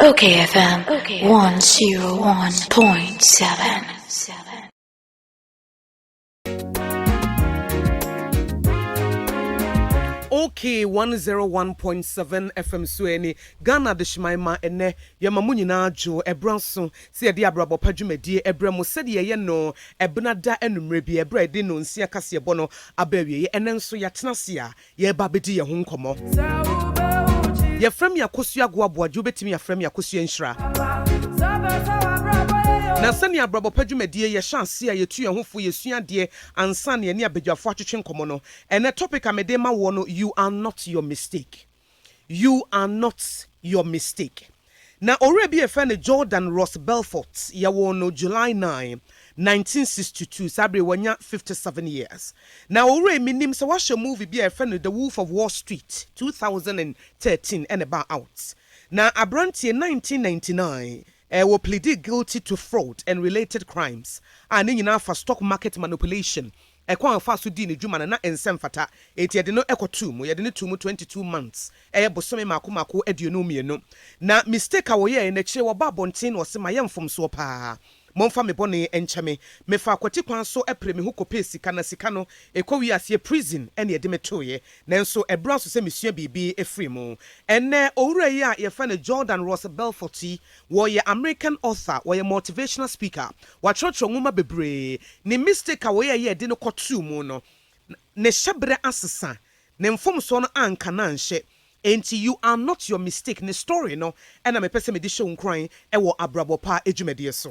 Okay FM 101.7. Okay 101.7 FM so ɛne Ghana de hyeman ma ɛnɛ yɛma mo nyinaa dwo ɛberɛ nso sɛ yɛde abrabɔ pa dwumadie ɛberɛ mo sɛdeɛ yɛyɛ no ɛbena da anummerɛ bi ɛberɛ a yɛde no nsia kaseɛbɔ no aba awieɛ ɛnɛ nso yɛatena ase a yɛreba abɛdi yɛn ho nkɔmmɔ. Yɛfrɛ me Akosua Agoaboagye, wobɛtumi afrɛ me Akosua Nhyira. Na sɛnea abrabɔ pa dwumadie yɛ hyɛ aseɛ a yɛtu yɛn ho fo, yɛsua adeɛ ansa na yɛne abadwafoɔ atwetwe nkɔmmɔ no. Ɛnɛ topic a mede rema woɔ no, You are not your mistake. You are not your mistake. Na owura bi a yɛfrɛ no Jordan Ross Belfort, yɛwoo no July nine, nineteen sixty two, saa bere yi wanya fifty seven years. Na owura yi minnim sɛ woahyɛ movie bi a yɛfrɛ no The Wolf of Wall Street, two thousand and thirteen ɛna ɛbaa out. Na aberanteɛ nineteen ninety nine eh, wɔ pleadee guilty to fraud and related crimes a ne nyinaa fa stock market manipulation Ɛkwan a ɔfaa so dii ne dwuma no, na ɛnsɛ mfata. Enti yɛde no kɔtoo mu. Yɛde no too mu twenty two months, ɛyɛ bosome mmaako mmaako aduonu mmienu. Na mistake a wɔyɛeɛ no, akyire yi wɔbaa abɔnten na wɔse mayɛ mfomsoɔ pa ara. Momfa me bɔne nkyɛ me. Mefaa kwati kwan so pere me ho kɔpɛɛ sika, na sika no, ɛkɔwii aseɛ prison na yɛde me tooeɛ. Nanso ɛbra so sɛ mesua biribi firii mu. Ɛnnɛ, owura yi a yɛfrɛ no Jordan Ross Belfort yi, Wɔyɛ American author, wɔyɛ motivational speaker, watwerɛtwerɛ nwoma bebree. Ne mistake a wɔyɛɛ yɛ de no kɔtoo mu no, ne hyɛberɛ asesa, ne mfomsoɔ no anka no anhyɛ. Enti you are not your mistake ne story no na mepɛ sɛ mede hyɛ wo nkuran wɔ abrabɔ pa adwumadie so.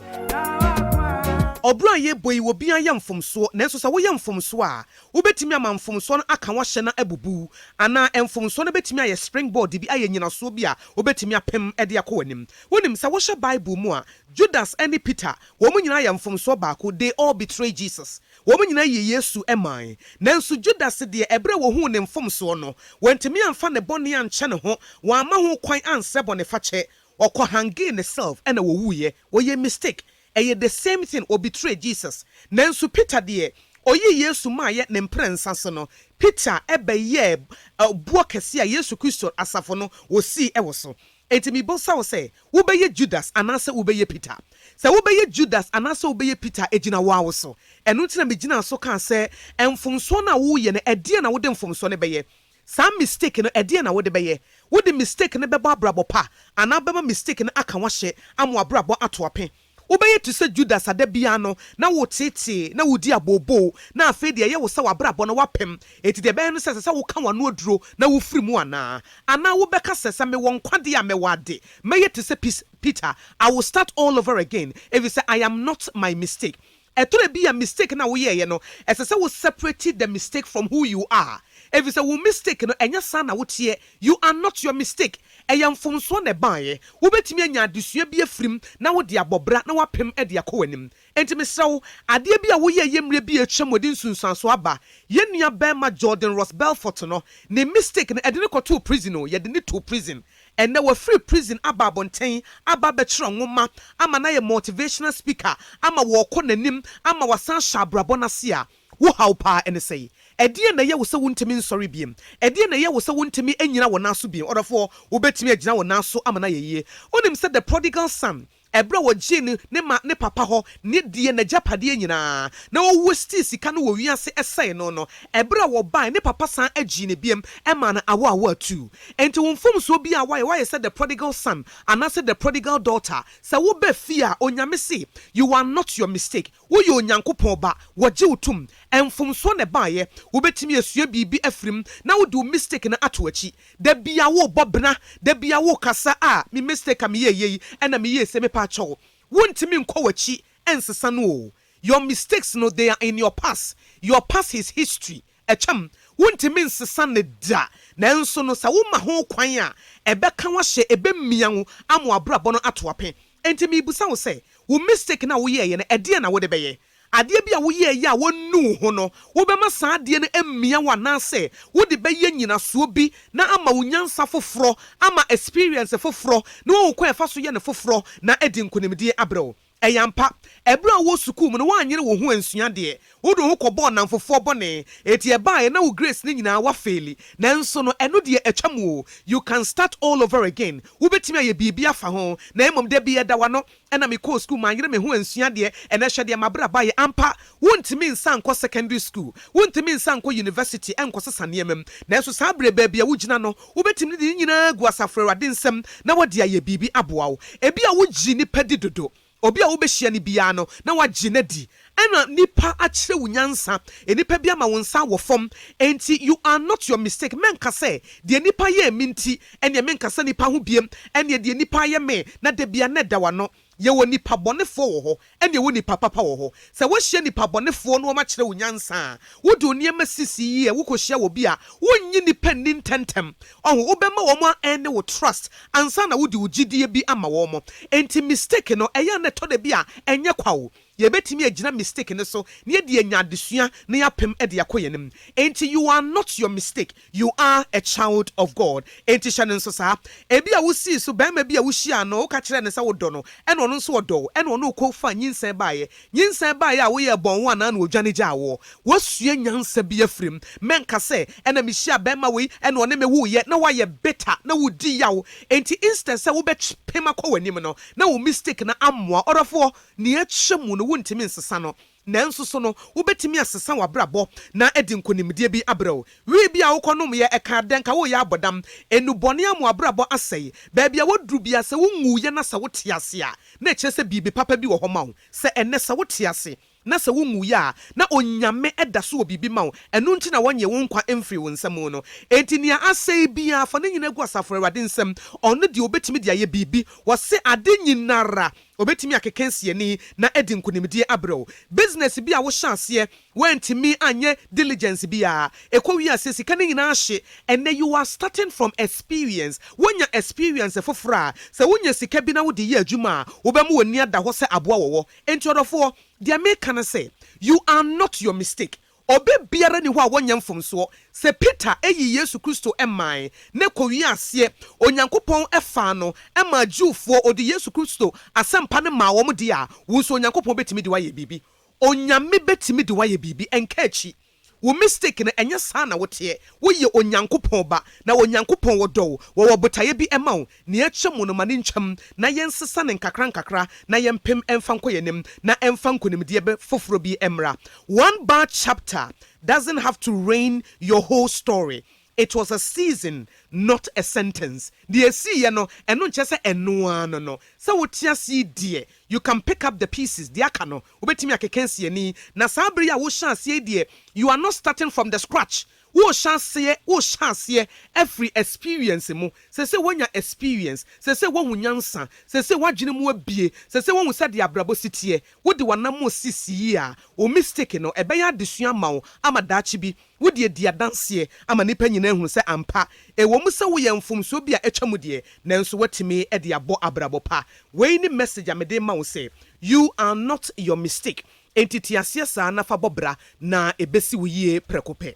Ɔbrɔ a yɛrebɔ yi, obiara yɛ mfomsoɔ, nanso sɛ woyɛ mfomsoɔ a, Wobetumi ama mfomso no aka w'ahyɛ no abubu. Anaa mfomso no betumi ayɛ springboard bi, ayɛ nnyinaso bi a wobetumi apem de akɔ w'anim. Wunim sɛ wohwɛ Bible mu a, Judas ne Peter, wɔn nyinaa yɛ mfomsoɔ baako, they all betrayed Jesus. Wɔn nyinaa yii Yesu mae. Nanso Judas deɛ, ɛberɛ a wɔhuu ne mfomsoɔ no, wantumi amfa ne bɔne ankyɛ ne ho, wamma ho kwan ansrɛ bɔnefakyɛ. Ɔkɔhangee ne self ɛna ɔwuiɛ. Ɔyɛɛ mistake. Ɛyɛ the same thing wɔ betray Jesus nanso Peter deɛ ɔyii Yesu maayɛ ne mprɛnsa so no Peter bɛyɛɛ boɔ kɛseɛ a Yesu Kristo asafo no wɔsii wɔ so. Enti mebɔsa wo sɛ wobɛyɛ Judas anaasɛ wobɛyɛ Peter? Sɛ wobɛyɛ Judas anaasɛ wobɛyɛ Peter ɛgyina woa wo so. Ɛno nti na megyinaa so kaa sɛ mfomsoɔ no a woreyɛ no ɛdeɛn na wode mfomsoɔ no bɛyɛ? Saa mistake no ɛdeɛn na wode bɛyɛ? Wode mistake no bɛbɔ abrabɔ pa anaa wobɛma mistake no aka wahye ama wabrabɔ ato ape? Wobɛyɛ te sɛ Judas a da biara no na woteetee na wodi abooboo na afei deɛ ɛyɛ wo sɛ wabrabɔ no wapem enti deɛ ɛbɛyɛ no sɛ ɛsɛ sɛ woka wano aduro na wofiri mu anaa? Anaa wobɛka sɛ sɛ mewɔ nkwa deɛ a mɛwɔ ade mɛyɛ te sɛ Peter I will start all over again efisɛ I am not my mistake Ɛtɔ da bi a mistake no a woyɛeɛ no, ɛsɛ sɛ wo separate the mistake from who you are. Ɛfiri sɛ wo mistake no, ɛnyɛ saa na woteɛ. You are not your mistake. Ɛyɛ mfomsoɔ na ɛbaeɛ. Wobɛtumi anya adesua bi afiri mu na wode abɔ bra na woapem de akɔ w'anim. Enti mesrɛ wo, adeɛ bi a woyɛeɛ mmerɛ bi a atwam wɔde nsunsuansoɔ aba. Yɛn nua barima Jordan Ross Belfort no, ne mistake no, ɛde no kɔtoo prison o, yɛde no too prison. Ɛnnɛ wafiri prison aba abɔnten aba abɛkyerɛ nwoma ama no ayɛ motivational speaker ama wɔrekɔ n'anim ama wasan ahyɛ abrabɔ no ase a, wo haw paa ɛne sɛn? Ɛdeɛn na ɛyɛ wo sɛ wontumi nsɔre bio? Ɛdeɛn na ɛyɛ wo sɛ wontumi nnyina wo nan so bio? Ɔdɔfoɔ, wobɛtumi agyina wo nan so ama no ayɛ yie? Wonim sɛ the prodigal son Ɛberɛ a wɔgyee no ne ma ne papa hɔ ne deɛ n'agyapadeɛ nyinaa, na wɔwastii sika no wɔ wiase sɛee no no, ɛberɛ a wɔbaeɛ ne papa san gyee no biam maa no awo awo atuu. Enti wo mfomsoɔ biara a woayɛ, woayɛ sɛ the prodigal son anaasɛ the prodigal daughter, sɛ woba fie a, Onyame se, You are not your mistake. Woyɛ Onyankopɔn Ba, Wɔgye wo tom, Mfomsoɔ na ɛbaeɛ, Wobɛtumi asua biribi afiri mu, Na wode wo mistake no ato akyi. Da biara worebɔ bena, Da biara worekasa, Ah, me mistake a meyɛɛ yei, Ɛna meyɛɛ sei, Mepaakyɛw, Wontumi nkɔ w'akyi nsesa no o, Your mistakes no, they are in your past, Your past is history, Ɛkyɛm, wontumi nsesa no da, nanso no sɛ woma ho kwan a, ɛbɛka wo ahyɛ, ɛbɛmia wo ama w'abrabɔ no ato ape. Enti merebisa wo sɛ, wo mistake no a woyɛeɛ no, ɛdeɛn na wode bɛyɛ? Adeɛ bi a woyɛeɛ a wɔannu wo ho no, wobɛma saa adeɛ no amia wo anaasɛ wode bɛyɛ nyinasoɔ bi na ama wo nyansa foforɔ, ama experience foforɔ, na woahu kwan a ɛfa so yɛ no foforɔ, na adi nkonimdie abrɛ wo? Ɛyɛ ampa, ɛberɛ a wowɔ sukuu mu no woanyere wo ho ansua adeɛ, wode wo ho kɔbɔɔ nnamfofoɔ bɔne, enti ɛbaeɛ na wo grades no nyinaa woafeeli. Nanso no ɛno deɛ atwa mu o, you can start all over again, wobɛtumi ayɛ biribi afa ho. Na mmom dabi ɛda w'ano, ɛna mekɔɔ sukuu manyere me ho ansua adeɛ, ɛnɛ hwɛ deɛ m'abrabɔ ayɛ. Ampa, Wontumi nsan nkɔ sekɔndri sukuu, wontumi nsan nkɔ yunivɛsiti nkɔsesa nneɛma mu. Nanso saa bere, baabi a wugyina no, wobetumi de ne nyinaa agu asafo Awurade nsam na wɔde ayɛ biribi aboa wo. Ebia wugye nnipa di dodo. Obi a wubehyia no biara no, na woagye no adi. Ɛna nnipa akyerɛ wo nyansa. Nnipa bi ama wo nsa awɔ fam. Enti you are not your mistake. Mɛnka sɛ, Deɛ nnipa yɛɛ me nti, ɛnneɛ menka sɛ nnipa ho bio. Ɛnneɛ deɛ nnipa ayɛ me, na da biara na ɛda w'ano. Yɛwɔ nnipa bɔnefoɔ wɔ hɔ ɛne yɛwɔ nnipa papa wɔ hɔ. Sɛ wohyia nnipa bɔnefoɔ na wɔakyerɛ wo nyansa a, wode wo nneɛma sisi yie a, wokɔhyia wɔ bi a, wonnye nnipa nni ntɛntɛm. Ɔho, wobɛma wɔn a earne wo trust ansa na wode wo gyidie bi ama wɔn. Enti mistake no, ɛyɛ a na ɛtɔ da bi a ɛnyɛ kwa o. Yɛbɛtumi agyina mistake no so na yɛde anya adesua na yɛapem de akɔ yɛn anim. Enti you are not your mistake, you are a child of God. Enti hyɛ no nso saa. Ebia wosii so barima bi a wohyiaa no, woka kyerɛɛ no sɛ wodɔ no, ɛna ɔno nso ɔdɔ wo, ɛna ɔne wo kɔ faa nyinsɛn baeɛ. Nyinsɛn baeɛ a woyɛɛ bɔn wo anaa na ɔdwane gyaa woɔ? Woasua nyansa bi afiri mu. Mɛnka sɛ, ɛna mehyiaa barima wei, ɛna ɔne me woeɛ, na woayɛ bitter, na woredi yaw. Enti instead sɛ wobɛpem akɔ w'anim no, na wo mistake no ammoa. Ɔdɔfoɔ! Nea ɛkyɛ mu no, wuntumi nsesa no. Nanso so no, wubetumi asesa w'abrabɔ na adi nkonimdie bi bere wo? Wii bi a wokɔnomyɛ, ɛkaa dɛn? Ka woreyɛ abɔdam? Nnubɔne ama w'abrabɔ asɛe? Baabi a woaduru biara, sɛ wunwuiɛ na sɛ wote ase a, na ɛkyerɛ sɛ biribi papa bi wɔ hɔ ma wo. Sɛ ɛnnɛ, sɛ wote ase na sɛ wunwuiɛ a, na Onyame da so wɔ biribi ma wo. Ɛno nti na wɔnyee wo nkwa mfirii wo nsa mu no. Enti nea asɛe biara, fa ne nyinaa gu Asafo Awurade nsam. Ɔno deɛ, obetumi de ayɛ biribi. Wɔse, Ade nyinara Obetumi akeka nsiani na adi nkonimdie abrɛ wo. Business bi a wohyɛ aseɛ, woantumi anyɛ diligence biara, ɛkɔwie aseɛ, sika no nyinaa hye. Ɛnnɛ you are starting from experience. Woanya experience foforɔ a, sɛ wonya sika bi na wode yɛ adwuma a, wobɛma w'ani ada hɔ sɛ aboa wɔ hɔ. Enti ɔdɔfoɔ, deɛ meka ne sɛ, you are not your mistake. Ɔbɛ biara nni hɔ a wɔnyɛ mfomsoɔ. Sɛ Peter yii Yesu Kristo mae na ɛkɔwiee aseɛ, Onyankopɔn faa no maa Jewfoɔ, ɔde Yesu Kristo asɛmpa no maa wɔn deɛ a, wo nso Onyankopɔn bɛtumi de wo ayɛ biribi. Onyame bɛtumi de wo ayɛ biribi. Ɛnka akyi. Wo mistake no, ɛnyɛ saa na woteɛ. Woyɛ Onyankopɔn ba, na Onyankopɔn ɔdɔ wo. Wɔwɔ botaeɛ bi ma wo. Nea ɛkyɛ mu no, ma no ntwam na yɛnsesa no nkakrankakra na yɛmpem mfa nkɔ yɛn anim na ɛmfa nkonimdie bɛ foforɔ bi mmra. One bad chapter doesn't have to ruin your whole story. It was a season not a sentence. Deɛ ɛsiiɛ no, ɛno nkyerɛ sɛ ɛno ara no no. Sɛ wote ase yi deɛ, you can pick up the pieces, deɛ aka no, wobɛtumi akeka asi ani. Na saa berɛ yi a wohyɛ aseɛ yi deɛ, you are not starting from the scratch, Wo hyɛ aseɛ wo hyɛ aseɛ afiri experience mo sɛsɛ wo anya experience sɛsɛ wo ahu nyansa sɛsɛ wo adwene mu abue sɛsɛ wo ahu sɛdeɛ abrabɔ si teɛ wo de w'anamɔn sisi yie a wo mistake no ɛbɛyɛ adesua ama wo ama daakye bi wo deɛ di adanseɛ ama nnipa nyinaa ahunu sɛ ampa ɛwɔ mu sɛ wo yɛ mfomsoɔ bi a atwa mu deɛ nanso woatumi de abɔ abrabɔ pa wei ne message a mede rema wo sɛ you are not your mistake Enti te aseɛ saa na fa bɔ bra, na ɛbɛsi wo yie prɛko pɛ.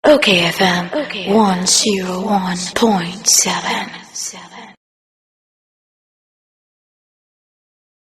Okay FM 101.7